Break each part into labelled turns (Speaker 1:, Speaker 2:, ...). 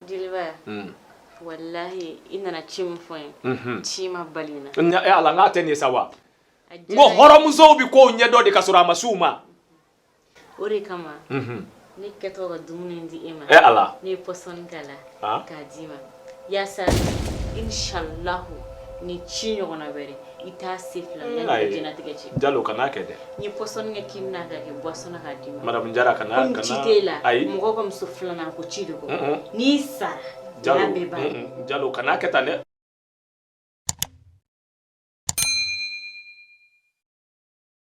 Speaker 1: jeliba hmm. walahi i nana ci min fɔ n ye mhm. ci ma bali n na eh, ala n k'a tɛ nin ye
Speaker 2: sa wa n ko hɔrɔnmusow bɛ kow ɲɛdɔn de ka sɔrɔ a ma s'u ma
Speaker 1: o de kama mhm. ne kɛtɔ ka dumuni di e ma eh, ala ne ye
Speaker 2: pɔsɔni k'a
Speaker 1: la ah. k'a d'i ma yaasa inshallahu ni ci ɲɔgɔnna wɛrɛ i t'a se fila mm. la ni jɛnatigɛ cɛ jalo kan'a kɛ
Speaker 2: dɛ n ye pɔsɔni kɛ
Speaker 1: kini na k'a kɛ buwasɔn na k'a d'i ma madamu jara kana kana komi
Speaker 2: ci t'e la ayi mɔgɔ
Speaker 1: ka muso filanan ko ci de ko n'i sara
Speaker 2: jalo jalo kan'a kɛ tan dɛ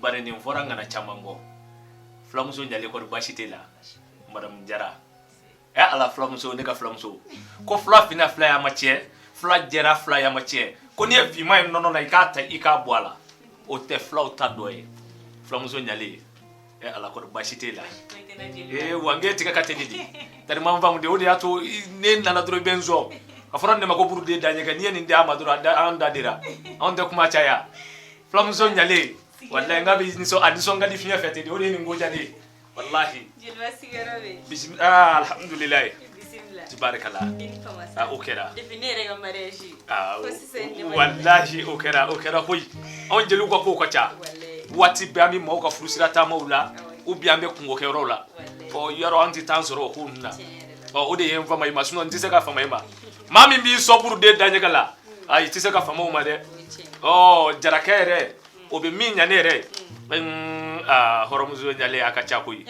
Speaker 2: bari nin fɔra ŋana caman kɔ fulamuso ɲalen kɔri basi t'i la madamu jara ɛ ala fulamuso ne ka fulamuso ko fula finna fulaya ma tiɲɛ fula jɛra fulaya ma tiɲɛ ko n'i ye finman ye nɔnɔ na i k'a ta i k'a bɔ a la o tɛ fulaw ta dɔ ye fulamuso ɲalen ɛ ala kɔri basi t'i la ee wa nge tigɛ ka teli di tariman faamu de o de y'a to i- ne nana dɔrɔn i bɛ n sɔn a fɔra ne ma ko burude daɲɛgɛ n'i ye nin di a ma dɔrɔn a da- an da dira anw tɛ kuma caya fulamuso ɲalen walayi n ka bɛ nisɔn a nisɔn ka di fiɲɛ fɛ ten de o de ye nin ko diya ne ye walahi jeliba
Speaker 1: sigiyɔrɔ bɛ bisimila aa
Speaker 2: alhamdulilayi bisimila tibarikala
Speaker 1: i ni
Speaker 2: fama aa o kɛra depuis ne yɛrɛ ka mariage
Speaker 1: ye aa ko sisan ne
Speaker 2: ma walahi o kɛra o kɛra koyi anw jeliw ka kow ka ca walayi waati bɛɛ an bɛ maaw ka furusira taamaw la u bi an bɛ kunkokɛyɔrɔw la walayi ɔ yɔrɔ an tɛ temps sɔrɔ o ko ninnu na tiɲɛ yɛrɛ la ɔ o de ye n fama i ma sinɔn n tɛ se ka fama i ma maa min b'i sɔn burude daɲɛgɛ la ayi i tɛ se ka fama o ma dɛ ɔ jarakɛ yɛrɛ o bɛ min ɲa ne yɛrɛ ye aa hɔrɔnmuso ɲalen a ka ca koyi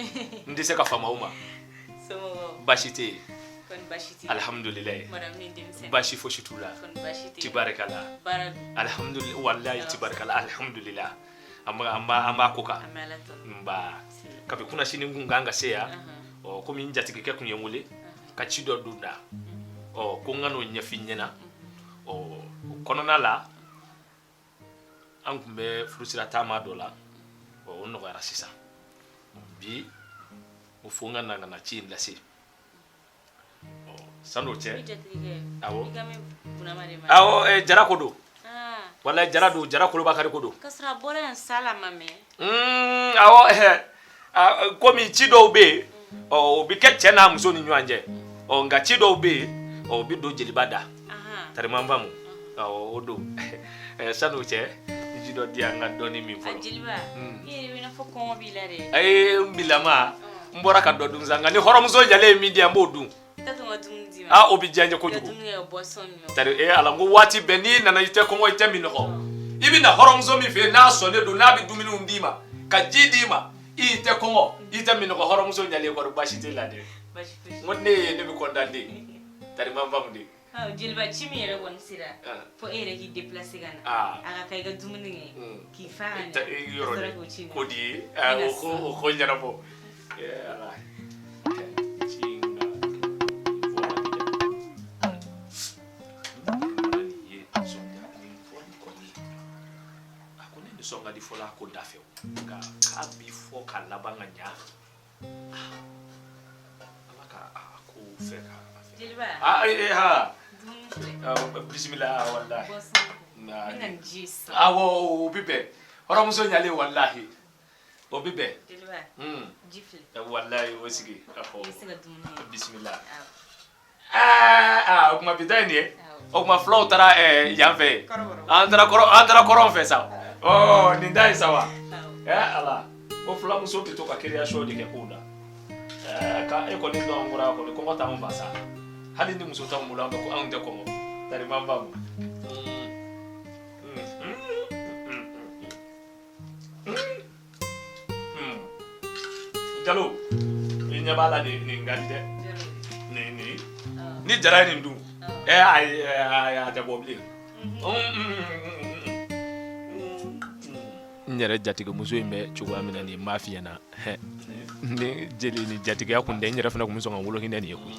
Speaker 2: n tɛ se ka fama aw ma
Speaker 1: baasi tɛ yen alihamudulilayi baasi fosi t'u
Speaker 2: la tibarikala alihamudulilayi walayi tibarikala alihamudulilayi an b'a ko kan nba kabi kunasini n kun kan ka se yan ɔ komi n jatigikɛ tun ye n wele ka ci dɔ don n da ɔ ko n ka n'o ɲɛf'i ɲɛna ɔ o kɔnɔna la an tun bɛ furusira taama dɔ la ɔ o nɔgɔyara sisan bi o fo n ka na ka na ci in lase ɔ san'o cɛ awɔ awɔ jara ko don wala jara don jara kɔrɔ bakari ko don. kasɔrɔ a bɔra yan sa
Speaker 1: la ma mɛn. Mm,
Speaker 2: awɔ komi ci dɔw bɛ yen ɔ o bɛ kɛ cɛ n'a muso ni ɲɔgɔn cɛ ɔ nka ci dɔw bɛ yen ɔ o bɛ don jeliba da tariman faamu awɔ o don sani o cɛ ji dɔ di yan n ka dɔɔni min fɔlɔ. jeliba mm. i
Speaker 1: yɛrɛ bɛ i n'a fɔ kɔngɔ b'i la dɛ. ayi n bilama
Speaker 2: n bɔra ka dɔ dun sa nka ni hɔrɔnmuso ɲalen ye min di yan n b'o dun. o bɛ diya n ye kojugu tari ee ala ko waati bɛɛ n'i nana i tɛ kɔngɔ i tɛ minɔgɔ i bɛ na hɔrɔnmuso min fɛ yen n'a sɔnnen don n'a bɛ dumuniw d'i ma ka ji d'i ma i tɛ kɔngɔ i tɛ minɔgɔ hɔrɔnmuso ɲalen kɔrɔ baasi t'a la dɛ n ko ne ye ne bɛ kɔntan de tari n b'a faamu de Jeliba ci min
Speaker 1: yɛrɛ kɔni sera fo e yɛrɛ k'i deplase ka na a ka kan i ka dumuni kɛ k'i fa ko
Speaker 2: di ye ko ɲɛnabɔ a ko ne bɛ sɔn ka di fɔ a ko da fɛ ka bi fɔ ka laban ka ɲa Bisimila o bɛ bɛn hɔrɔnmuso
Speaker 1: ɲalen
Speaker 2: walayi o bɛ bɛn
Speaker 1: walayi o
Speaker 2: sigi
Speaker 1: bisimila
Speaker 2: Aa o kuma bi ta nin o kuma fulaw taara yanfɛ an an taara kɔrɔn fɛ sa nin da ye sa wa ala ko fulamuso bɛ to ka kereyasiyɔn de kɛ kow la k' e kɔni kɔni kɔngɔ t'an faa sa hali ni muso t'an bolo an ko anw tɛ kɔngɔ tari ma jalo i ɲɛ b'a la nin nin ka di dɛ nin nin ni jara ye nin dun ɛ ayi ɛ, ayi a tɛ bɔ bilen n yɛrɛ jatigimuso in bɛ cogoya min na nin m'a f'i ɲɛna hɛ ni jeli ni jatigiya kun tɛ n yɛrɛ fana kun bɛ sɔn ka wolo hinɛ nin ye koyi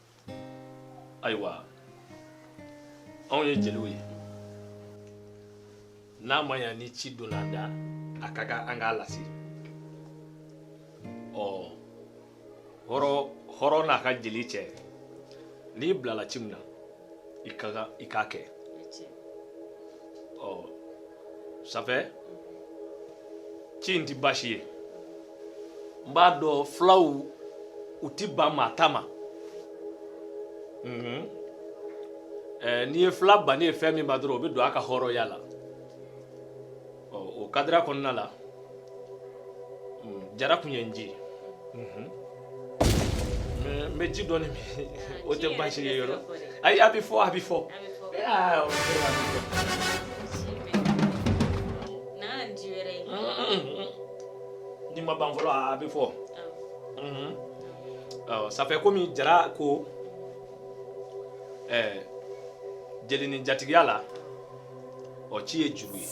Speaker 2: ayiwa anw ye jeliw ye n'a ma ɲa ni ci donna an da a ka kan an k'a lase ɔ hɔrɔn n'a ka jeli cɛ n'i bilala ci min na i k'a kɛ ɔ safɛ ci in tɛ baasi ye n b'a dɔn fulaw u ti ban maa ta ma mhm. eh, n'i ye fula bannen ye fɛn min ma dɔrɔn o bɛ don a ka hɔrɔnya la o kadira kɔnɔna la mm, jara kun ye n ji mhm. n bɛ ji dɔɔni min o tɛ baasi ye yɔrɔ ayi a bɛ fɔ a bɛ fɔ. ni ma ban fɔlɔ a bɛ fɔ safɛ komi jara ko ɛɛ jeli ni jatigiya la ɔ ci ye juru ye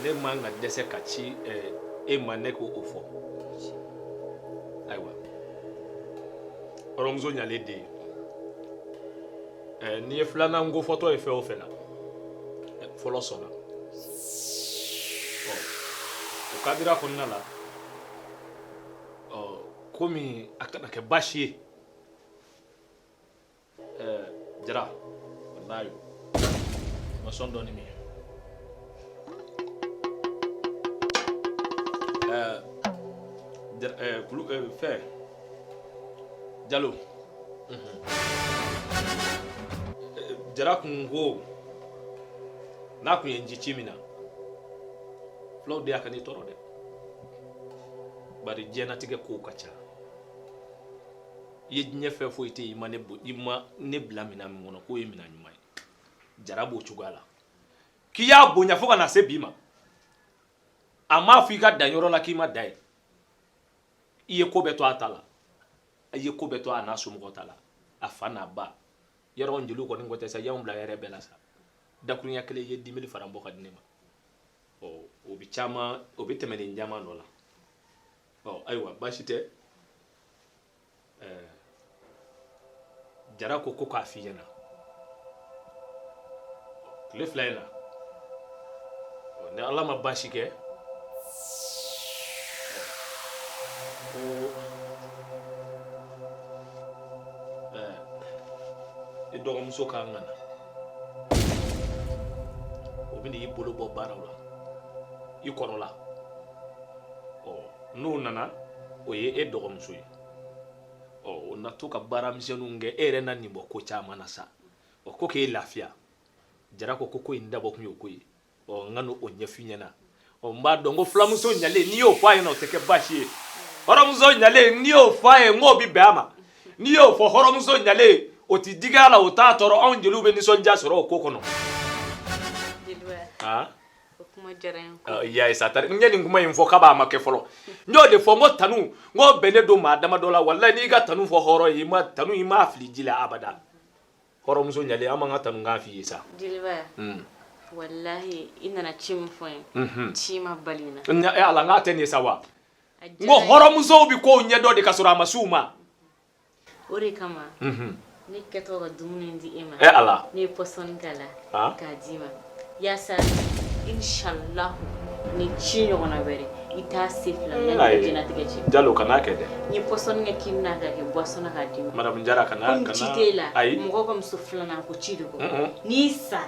Speaker 2: ne man ka dɛsɛ ka ci ɛɛ e ma ne ko o fɔ ayiwa hɔrɔnmuso ɲalen den ɛɛ n'i ye filanan ko fɔtɔ ye fɛn o fɛn na fɔlɔ sɔnna ɔ o kadira kɔnɔna la ɔ komi a kana kɛ baasi ye ɛɛ jara walayi ma sɔn dɔɔni min ɛɛ jara ɛɛ kulu ɛɛ fɛn jalo. Jara kun ko n'a tun ye n ci ci min na fulaw de a kan'i tɔɔrɔ dɛ bari diɲɛnatigɛ kow ka ca i ye diɲɛ fɛn foyi tɛ yen i ma ne bo i ma ne bila minɛn min kɔnɔ k'o ye minɛn ɲuman ye jara b'o cogoya la k'i y'a bonya fo ka na se bi ma a m'a fɔ i ka dan yɔrɔ la k'i ma dan yen i ye ko bɛɛ to a ta la a ye ko bɛɛ to a n'a somɔgɔw ta la a fa n'a ba yɔrɔ an jeliw kɔni ko tɛ sa y'anw bila yɛrɛ bɛɛ la sa dakurunya kelen i ye dimili faran bɔ ka di ne ma ɔ o bɛ caman o bɛ tɛmɛ nin caman dɔ la ɔ ayiwa baasi tɛ ɛɛ jara ko ko k'a f'i ɲɛna tile fila in na ni ala ma baasi kɛ ko i dɔgɔmuso ka kan ka na o bɛ n'i bolo bɔ baaraw la i kɔrɔla ɔ n'o nana o ye e dɔgɔmuso ye ɔ o na to ka baara misɛnninw kɛ e yɛrɛ na nin bɔ ko caman na sa ɔ ko k'e lafiya jara ko ko ko in dabɔ kun y'o ko ye ɔ n ka n'o ɲɛf'i ɲɛna ɔ n b'a dɔn ko fulamuso ɲalen n'i y'o fɔ a ɲɛna o tɛ kɛ baasi ye hɔrɔnmuso ɲalen n'i y'o fɔ a ye n k'o bɛ bɛn a ma n'i y'o fɔ hɔrɔnmuso ɲalen o tɛ digi a la o t'a tɔɔrɔ anw jeliw bɛ nisɔndiya sɔrɔ o ko kɔnɔ. yayisa tari n ye nin kuma in fɔ k'a b'a ma kɛ fɔlɔ n y'o de fɔ n ko tanu n ko bɛnnen don maa dama dɔ la walayi n'i ka tanu fɔ hɔrɔn ye i ma tanu i m'a fili ji la abada hɔrɔnmuso ɲalen an b'an ka tanu k'a f'i ye sa
Speaker 1: jeliba walahi i nana ci min fɔ n ye ci ma bali n na ala n k'a tɛ nin ye sa wa
Speaker 2: n ko hɔrɔnmusow bɛ kow ɲɛdɔn de ka sɔrɔ a ma s'u ma o
Speaker 1: de kama ne kɛtɔ ka dumuni di e ma eh, ala ne ye
Speaker 2: pɔsɔni k'a
Speaker 1: la ah. k'a d'i ma yaasa inshallah ni ci ɲɔgɔnna wɛrɛ i t'a se fila mm. la ni jɛnatigɛ cɛ jalo kan'a kɛ dɛ
Speaker 2: n ye pɔsɔni kɛ
Speaker 1: kini na k'a kɛ boisson na k'a d'i ma madame jara kana kana
Speaker 2: ci t'e la
Speaker 1: mɔgɔ ka muso filanan ko ci de kɔ n'i sara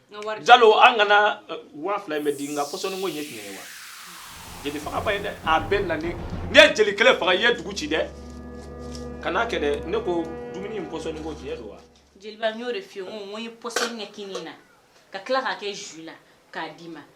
Speaker 2: jalo an kana eh, waa fila in bɛ di nka pɔsɔni ko in ye tiɲɛ ye wa jeli fagaba ye dɛ a bɛɛ na n'i ye jeli kelen faga i ye dugu ci dɛ kan'a kɛ dɛ ne ko dumuni in pɔsɔni ko tiɲɛ don wa jeliba n y'o de f'i
Speaker 1: ye n ko n ko n ye pɔsɔni kɛ kini na ka tila k'a kɛ jus la k'a d'i ma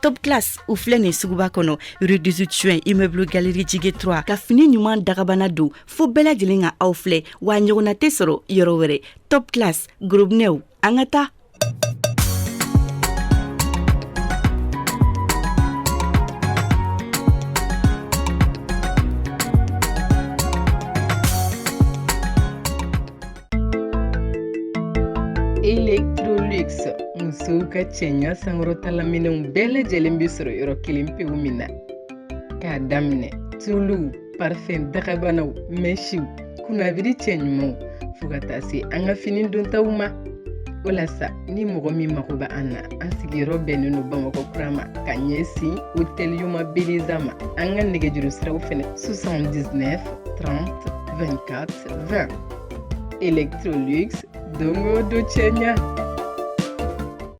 Speaker 3: top class u filɛ nin suguba kɔnɔ rue 18 juin immeuble galerie jige 3 ka fini ɲuman dagabana don fo bɛɛ lajɛlen ka aw filɛ wa ɲɔgɔnna tɛ sɔrɔ yɔrɔ wɛrɛ top class gorobinɛw An ka
Speaker 4: taa electrolux musow ka cɛɲa sankɔrɔtala minɛnw bɛɛ lajɛlen bɛ sɔrɔ yɔrɔ kelen pewu min na k'a daminɛ tuluw parfɛn dagabanaw mɛsiw kunnabiri cɛɲumanw fo ka taa se an ka fini dontaw ma o la sa ni mɔgɔ min mago bɛ an na an sigiyɔrɔ bɛnnen don bamakɔ kura ma ka ɲɛsin hôtel youma beleza ma an ka nɛgɛjuru siraw fɛnɛ 79 30 24 20 electrolux don o don cɛɲa